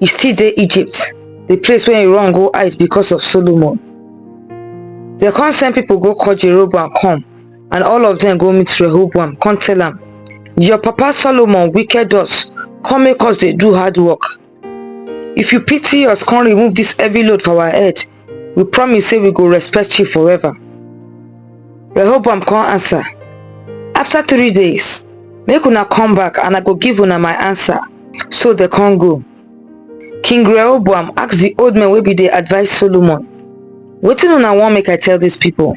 e still dey egypt the place wey he run go hide because of solomon dem come send people go call jeroboam come and all of them go meet rehoboam come tell am your papa solomon wicked us come make us dey do hard work if you pity us come remove this heavy load for our head we promise say we go respect you forever. Rehoboam come answer, After three days, make una come back and I go give una my answer. So they come go. King Rehoboam asked the old men wey be the advice Solomon, Wetin una want make I tell these people?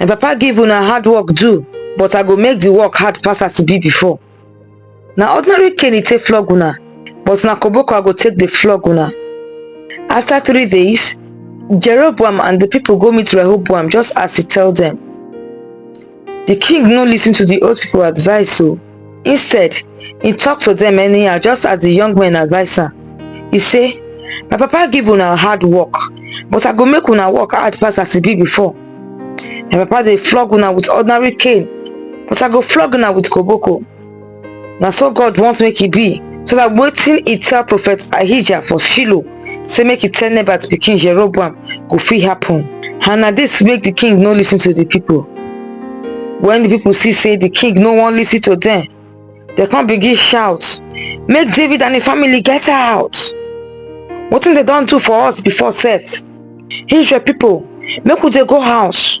my papa give una hard work do but i go make the work hard pass as e be before na ordinary cane e take flog una but na koboko i go take dey flog una after three days jeroboam and the people go meet rehoboam just as he tell them. the king no listen to the old people advice o instead he talk to them anyhow just as the young men advise am he say my papa give una hard work but i go make una work hard pass as e be before my papa dey flog una with ordinary cane but i go flog una with koboko na so god want make e be so that wetin he tell prophet ahijah for shiloh say make e tell nebat pikin jeroboam go fit happen and na dis make di king no listen to di pipo wen di pipo see say di king no wan listen to dem dem come begin shout make david and im family get out wetin dem don do for us before sef israel pipo make we dey go house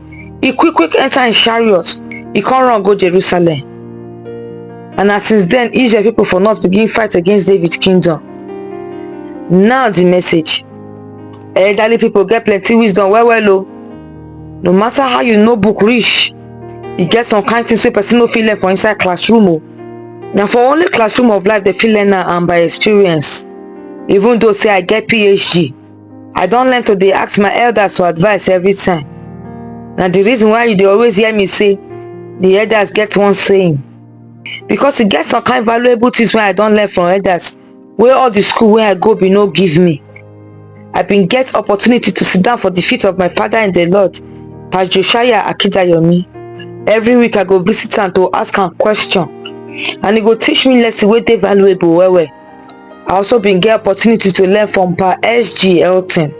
e quick quick enter im chariot e come run go jerusalem and na since then israel people for north begin fight against david kingdom now the message elderly people get plenty wisdom well well o no matter how you know book reach e get some kind things wey person no fit learn for inside classroom o na for only classroom of life dem fit learn am and by experience even though say i get phd I don learn to dey ask my elders for advice every time. Na the reason why you dey always hear me say the elders get one saying. Because e get some kind valuable things wey I don learn from elders wey all the school wey I go bin no give me. I bin get opportunity to sit down for the feet of my father in the Lord, Pastor Josiah Akidayomi. Every week I go visit am to ask am question and e go teach me lesson wey dey valuable well well. I also been get opportunity to learn from Pa SG Elton.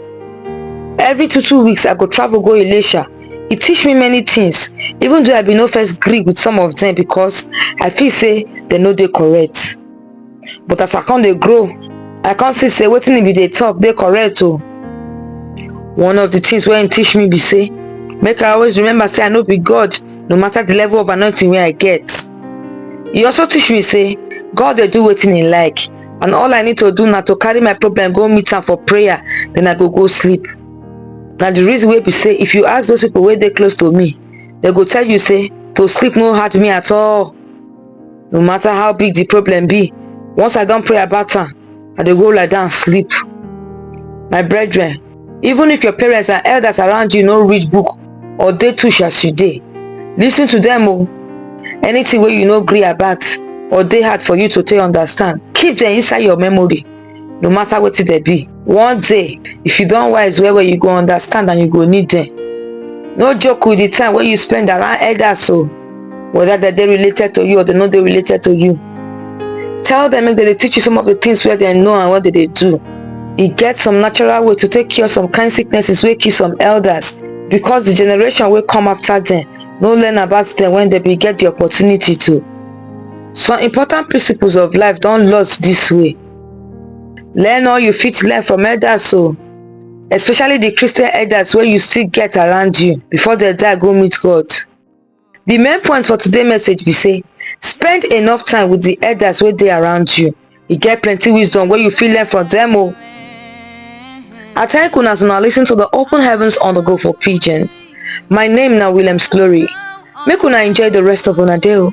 Every two two weeks, I go travel go Ilesha. He teach me many things, even though I be no first agree with some of them because I feel say they no dey correct. But as I come dey grow, I come see say wetin he be dey talk dey correct o. One of the things wey he teach me be say make I always remember say I no be God no matter the level of anointing wey I get. e also teach me say god dey do wetin he like and all i need to do na to carry my problem go meet am for prayer then i go go sleep na the reason wey be say if you ask those people wey dey close to me they go tell you say to sleep no hard me at all no matter how big the problem be once i don pray about am i dey go lie down sleep my brethren even if your parents and elders around you no read book or dey tush as you dey listen to them o anything wey you no gree about or dey hard for you to take understand keep them inside your memory no matter wetin dem be one day if you don wise well well you go understand and you go need them no joke with the time wey you spend around elders o whether dem dey related to you or dem no dey related to you tell dem make dem dey teach you some of the things wey dem know and what dem dey do e get some natural way to take cure some kind sicknesses wey kill some elders because the generation wey come after dem no learn about dem when dem bin get the opportunity to some important principles of life don lost this way learn all you fit learn from elders o especially the christian elders wey you still get around you before dem die go meet god The main point for today message be say spend enough time with the elders wey dey around you. E get plenty wisdom wey you fit learn from them o. I thank una as una listen to the open heavens on the go for pidgin. My name na Williams Glory. Make una enjoy the rest of una day o.